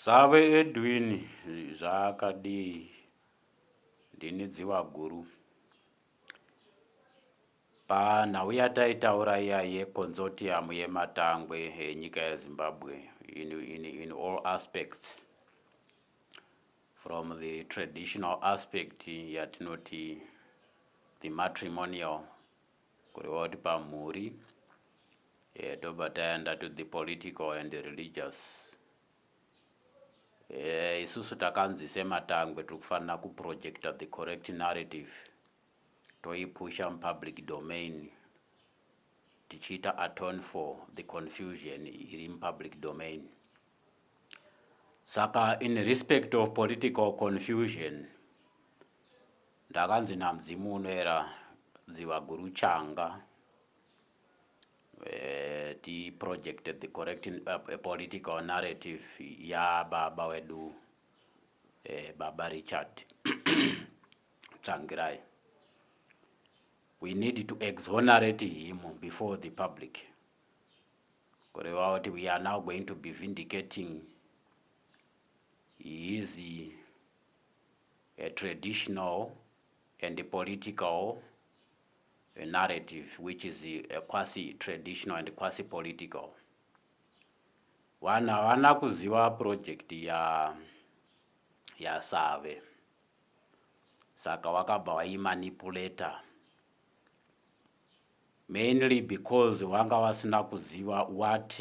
Save Edwin zvaakadii ndini dziva guru. Panhau yataitaura iya yekonsortium yematangwe enyika yeZimbabwe in, in, in all aspects from the traditional aspect yatinoti the matrimonial kureva kuti pamhuri eh, tobva taenda to the political and the religious eh, isusu takanzi sematangwe tiri kufanira kuprojecta the correct narrative toipusha mupublic domain tichiita atone for the confusion iri mupublic domain saka in respect of political confusion Ndakanzi namudzimu unoera dziva guru changa eh, ti project the correct uh, political narrative ya baba wedu eh, baba Richard Tsvangirai we need to exonerate him before the public kureva kuti we are now going to be vindicating his a traditional and political a narrative which is a quasi traditional and quasi political vanhu havana kuziva project ya yasave saka wakabva waimanipulator mainly because wanga wasina kuziva what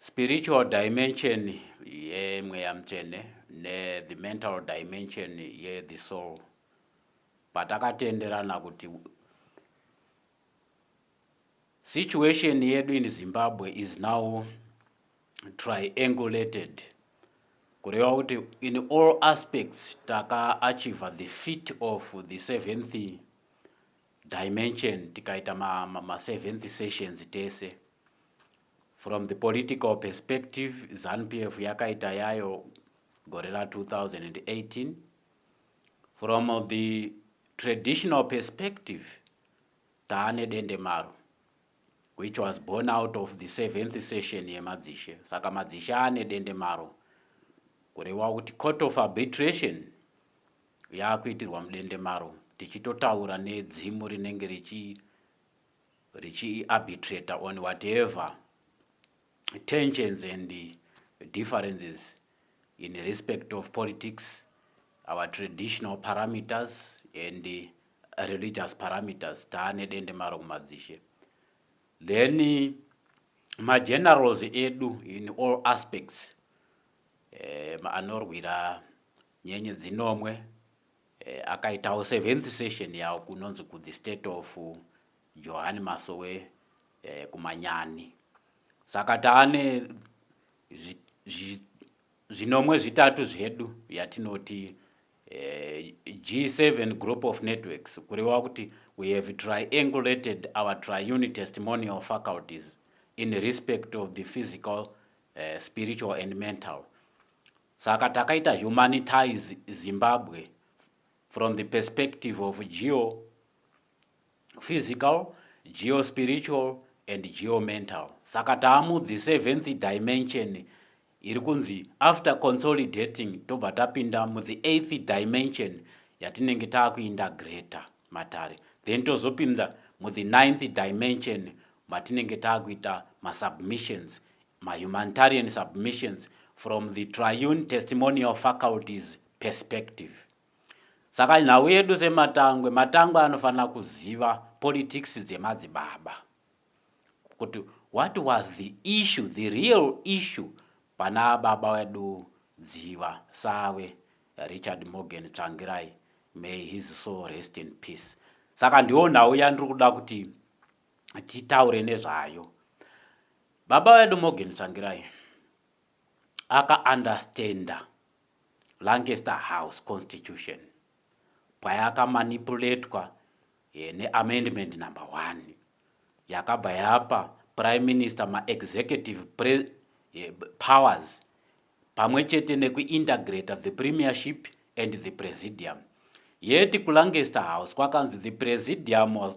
Spiritual dimension yemweya mutsvene ne the mental dimension ye the soul patakatenderana kuti situation yedu in Zimbabwe is now triangulated kureva kuti in all aspects taka achieve the feat of the seventh dimension tikaita ma, ma, ma seventh sessions tese from the political perspective zanupf yakaita yayo gore ra 2018 from the traditional perspective taane dendemaro which was born out of the seventh session yemadzishe saka madzishe ane dendemaro kureva kuti court of arbitration yaakuitirwa mudende maro tichitotaura nedzimu rinenge richi richiarbitrator on whatever tensions and differences in respect of politics our traditional parameters and religious parameters taane dende maro kumadzishe then magenerals edu in all aspects um anorwira Nyenye dzinomwe eh, akaitawo seventh session yawo kunonzi ku the state of Johani Masowe eh, kumanyani saka taane zvinomwe zvitatu zvedu yatinoti eh, G7 group of networks kurewa kuti we have triangulated our triune testimonial faculties in respect of the physical uh, spiritual and mental Saka takaita humanitize Zimbabwe from the perspective of geo physical, geo spiritual and geo mental. Saka taamu the seventh dimension iri kunzi after consolidating tobva tapinda mu the eighth dimension yatinenge taakuinda greater matare then tozopinda mu the ninth dimension matinenge taakuita masubmissions mahumanitarian submissions from the triune testimonial faculties perspective saka nhau yedu sematangwe matangwe anofanira kuziva politics dzemadzibaba kuti what was the issue the real issue pana baba wedu dziva sawe richard morgan tsvangirai may his soul rest in peace saka ndiwo nhau yandiri kuda kuti titaure nezvayo Baba vedu Morgan Tsvangirai aka understanda Lancaster House Constitution payaka manipuletwa eh, ne amendment number one yakabva yapa prime minister ma executive pre, eh, powers pamwe chete nekuintegrata the premiership and the presidium yeti kuLancaster House kwakanzi the presidium was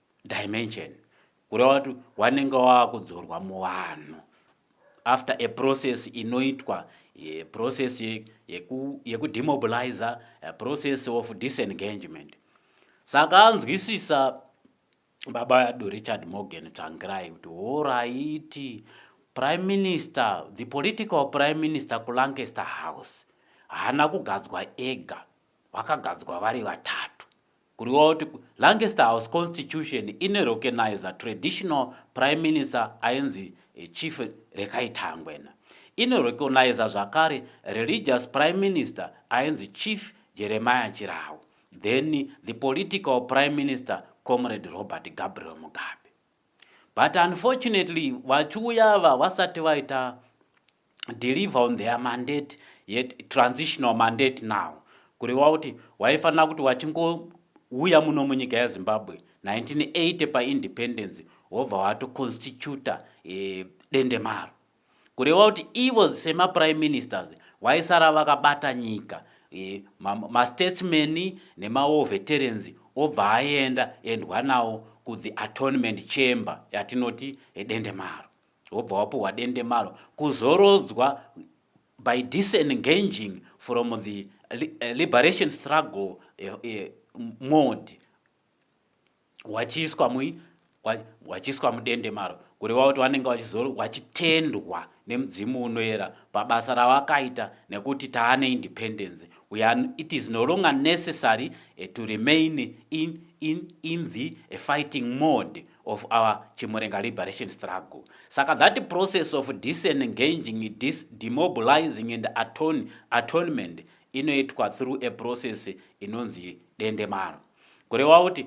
dimension kureva kuti wanenge wakudzorwa muvanhu after a process inoitwa eh, process yekudemobilizer yeku eh, process of disengagement saka anzwisisa baba yadu richard morgan tsvangirai kuti horaiti prime minister the political prime minister kulancaster house haana kugadzwa ega vakagadzwa vari vatatu Kuriwa kuti Lancaster House Constitution ine recognizer traditional prime minister ainzi Chief Rekai Tangwena. Ino recognizer zvakare religious prime minister ainzi Chief Jeremiah Chirau. Then the political prime minister Comrade Robert Gabriel Mugabe. But unfortunately vachiuya ava vasati vaita deliver on their mandate yet transitional mandate now kureva kuti waifanira kuti wachingouya muno munyika yezimbabwe 1980 paindependence wobva watoconstituta e, eh, dendemaro kureva kuti ivo semaprime ministers vaisara vakabata nyika e, mastatesman ma nemawar veterans obva aenda endwa nawo kuth atonement chamber yatinoti edendemaro wobva wapuhwa dendemaro kuzorodzwa by disengaging from the eh, liberation struggle eh, eh, mode wachiiswa mui wachiiswa mudendemaro kureva kuti vanenge vachitendwa nemudzimu unoera pabasa ravakaita nekuti taane independence weare it is no longer necessary eh, to remain in, in, in the eh, fighting mode of our Chimurenga liberation struggle. Saka that process of disengaging, dis demobilizing and atone, atonement inoitwa through a process inonzi dendemaro. Kureva kuti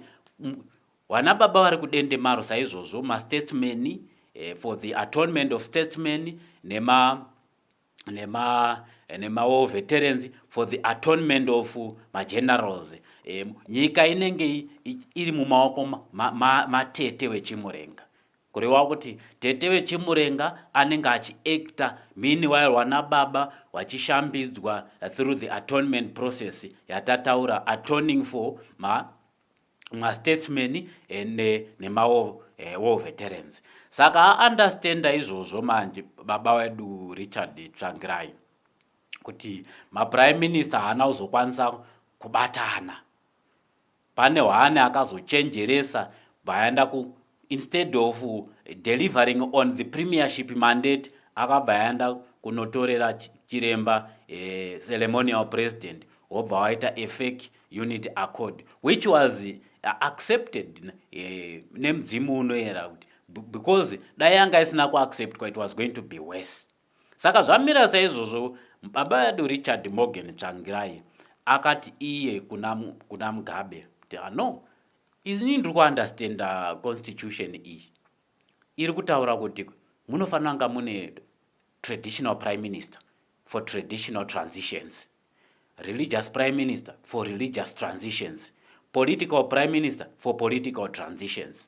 vana baba vari kudendemaro saizvozvo mastatesman eh, for the atonement of statesman nema nemawar veterans for the atonement of magenerals um, nyika inenge iri mumaoko matete ma, ma wechimurenga kureva kuti tete wechimurenga anenge achiacta meanwhile wana baba wachishambidzwa through the atonement process yatataura atoning for ma mastatesman nemawo war veterans saka aunderstanda izvozvo manje baba wedu richard tsvangirai kuti maprime minister haana kuzokwanisa kubatana pane hwaane akazochenjeresa bvaenda Instead of delivering on the premiership mandate akabva aenda kunotorera chiremba eh, ceremonial president wobva waita a fake unit accord which was eh, accepted eh, nemudzimu unoyera kuti because dai yanga isina kuacceptwa it was going to be worse Saka zvamira saizvozvo, baba vedu Richard Morgan Tsvangirai akati iye kuna, kuna Mugabe kuti ah, no ini ndiri kuunderstanda constitution iyi iri kutaura kuti munofanira kunga mune traditional prime minister for traditional transitions religious prime minister for religious transitions political prime minister for political transitions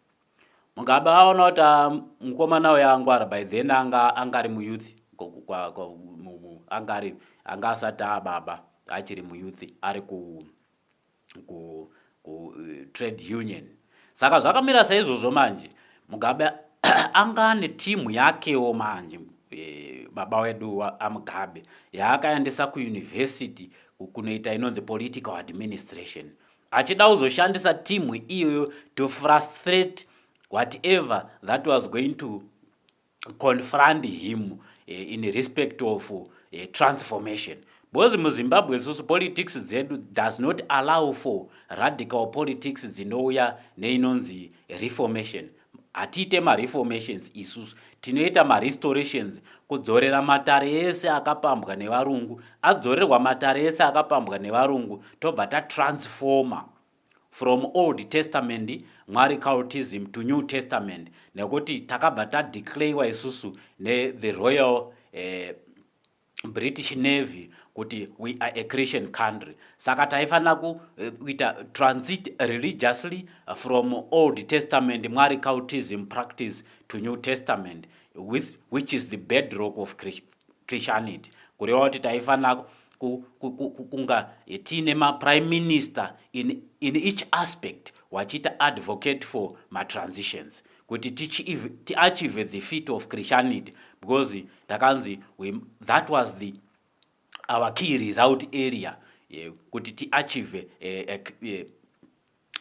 Mugabe aona kuti ah, mukomana uya angwara by then anga anga ari muyouth anga ari anga asati ababa achiri muyouth ari ku ku ku eh, trade union saka zvakamira saizvozvo manje mugabe anga ane timu yakewo manje eh, baba wedu amugabe yaakaendesa kuyunivhesiti kunoita inonzi political administration achida kuzoshandisa team iyoyo to frustrate whatever that was going to confront him eh, in respect of eh, transformation because muzimbabwe susu politics dzedu does not allow for radical politics dzinouya neinonzi reformation Hatiite mareformations isusu, tinoita marestorations, kudzorera matare ese akapambwa nevarungu. Adzorerwa matare ese akapambwa nevarungu tobva tatransformer from old testament mwari cultism to new testament nekuti takabva tadeclarewa isusu ne the royal eh, British Navy kuti we are a Christian country saka taifanira eh, kuita transit religiously from Old Testament Mwari cultism practice to New Testament with, which is the bedrock of Christianity kureva kuti taifanira kunga eh, tiine maprime minister in, in each aspect wachiita advocate for matransitions kuti tiachieve the feet of christianity because takanzi that was the our key result area eh, kuti tiachieve eh, eh,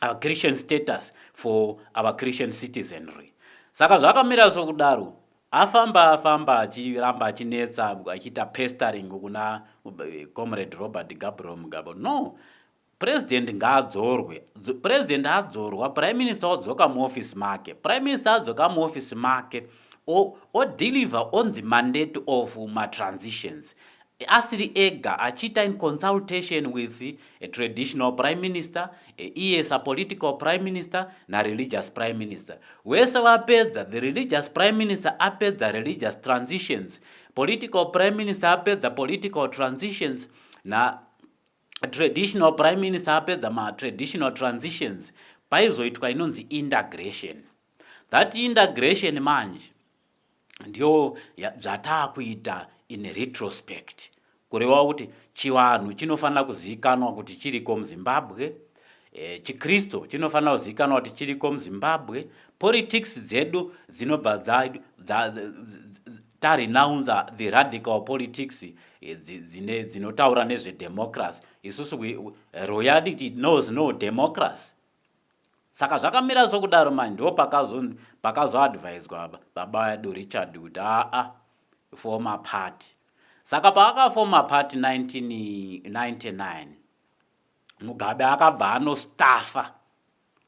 our christian status for our christian citizenry saka zvakamira sokudaro afamba afamba achiramba achinetsa achiita pestering kuna comrade robert gabriel mugabe no President ngaadzorwe. President adzorwa, Prime Minister odzoka muoffice make. Prime Minister adzoka muoffice make odeliver on the mandate of matransitions asiri ega achiita in consultation with a traditional prime minister iye sapolitical prime minister nareligious prime minister wese vapedza the religious prime minister apedza religious transitions political prime minister apedza political transitions na traditional prime minister apedza matraditional transitions paizoitwa inonzi indagration that indagration manje ndiyo zvataakuita in retrospect kureva kuti chivanhu chinofanira kuzivikanwa kuti chiriko muzimbabwe e, chikristu chinofanira kuzivikanwa kuti chiriko muzimbabwe politics dzedu dzinobva Tarinounza the radical politics idzi dzine dzinotaura nezve democracy isusu we, royality knows no democracy saka zvakamira sokudaro manje ndo pakazoadviswa pakazo baba edu richard kuti aa former party saka paakaformer party 1999 mugabe akabva anostaffa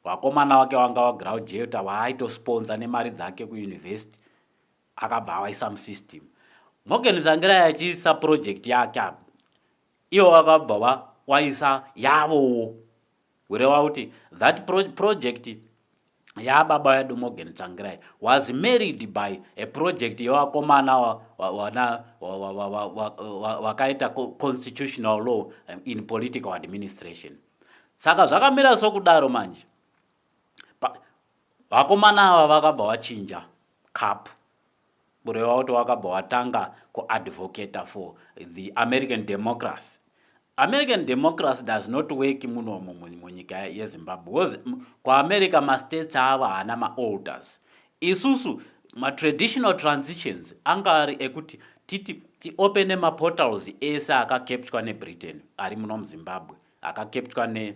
wakomana wake wanga wagraujeota waaitosponza nemari dzake kuuniversity akabva awaisa musystem morgan zangirai achiisa project yake apa ivo vakabva vawaisa yavowo kureva kuti that pro project yababa vedu morgan tsvangirai was married by a project yevakomana wana vakaita constitutional law in political administration saka zvakamira sokudaro manje vakomana ava vakabva vachinja cup kureva kuti wakabva watanga kuadvocata for the american democracy american democracy does not work muno munyika yezimbabwe because kuamerica mastates ava haana maalters isusu matraditional transitions anga ari ekuti titi tiopene maportals ese akakeptywa nebritain ari muno muzimbabwe akakeptywa ne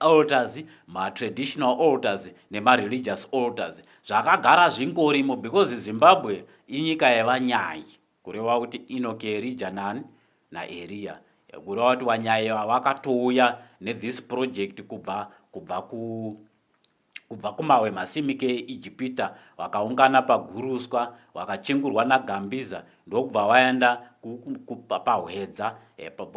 altars matraditional altars nemareligious altars zvakagara zvingorimo because zimbabwe inyika yevanyai kureva kuti inoki erija nani naeriya kureva kuti vanyai vakatouya nethis project kubva kubva ku Kubva kumawe masimike eIjipita wakaungana paguruswa, wakachengurwa naGambiza ndokubva waenda pahwedza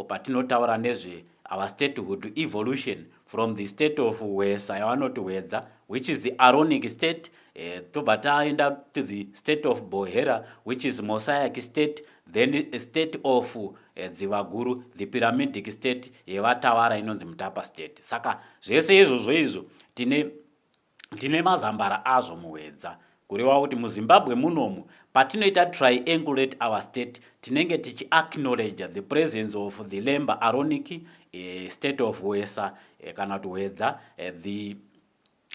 patinotaura nezve our statehood evolution from the state of hwesa yavanoti hwedza which is the aronic state eh, tobva taenda to the state of bohera which is mosaic state then a state of eh, dzivaguru the pyramidic state yevatawara inonzi mutapa state saka zvese izvozvo izvo tine tine mazambara azvo muhwedza kureva kuti muzimbabwe munomu patinoita triangulate our state tinenge tichiacknowledge the presence of the lember aronic eh, state of wesa eh, kana kuti hwedza eh, the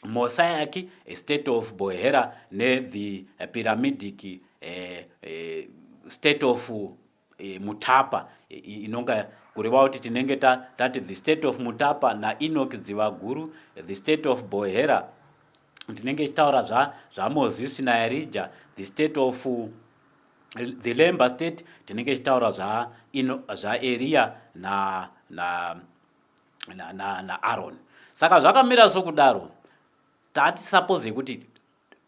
mosaic eh, state of bohera nethe eh, pyramidic eh, eh, state of e, mutapa e, inonga kureva kuti tinenge tati the state of mutapa naenoki dzivaguru the state of bohera tinenge tichitaura zvamozisi zva naerija the state of the lember state tinenge tichitaura zvaeriya zva na, na, na, na, na aron saka zvakamira sokudaro tati suppose yekuti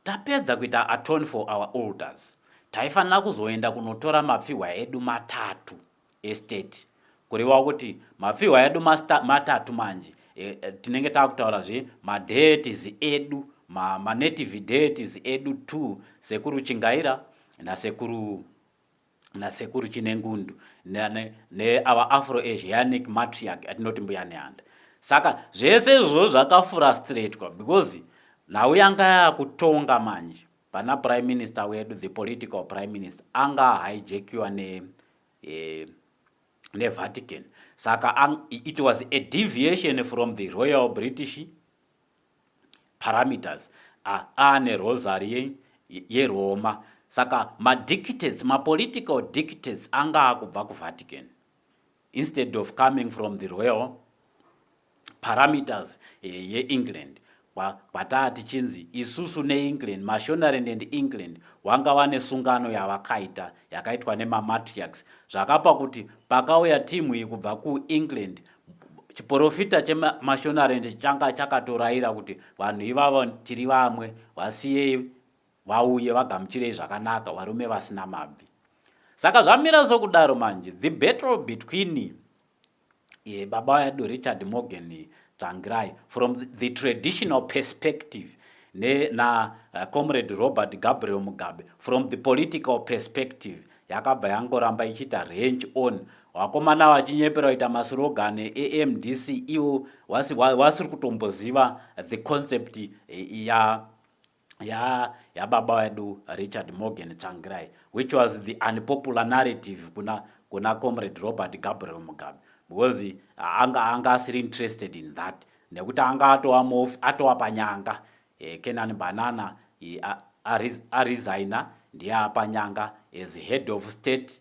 Tapedza kuita atone for our altars taifanira kuzoenda kunotora mapfihwa edu matatu estate kurevawo kuti mapfihwa edu matatu manje e, e, tinenge takutaura zve madeities edu ma, manative deities edu two sekuru chingaira nasekuru nasekuru chinengundu neava afro asianic matriarch atinoti mbuya neanda saka zvese izvozvo zvakafurastratwa because nhau yanga yakutonga manje pana prime minister wedu the political prime minister anga ahijakiwa ne eh, nevatican saka it was a deviation from the royal british parameters a aane rosary ye yeRoma saka madictates mapolitical dictates anga akubva kuVatican instead of coming from the royal parameters eh, yeEngland kwataa tichinzi isusu neengland mashonarend and england wanga wane sungano yavakaita yakaitwa nemamatriax zvakapa kuti pakauya timu iyi kubva kuengland chiporofita chemashonarendi changa chakatorayira kuti vanhu ivavo tiri vamwe vasiyei vauye vagamuchirei zvakanaka varume vasina mabvi saka zvamira sokudaro manje the battle between ye baba vedu richard morgan tsvangirai from the traditional perspective nacomrade eh, robert gabriel mugabe from the political perspective yakabva yangoramba ichiita range on Wakomana wachinyepera kuita maSlogan eMDC iwo wasi wasiri kutomboziva the concept ya ya yababa wedu Richard Morgan Tsvangirai which was the unpopular narrative kuna kuna Comrade Robert Gabriel Mugabe because anga anga asiri interested in that nekuti anga atova mofi atova panyanga eh, Kenan Banana eh, aresigner ndiye apanyanga as head of state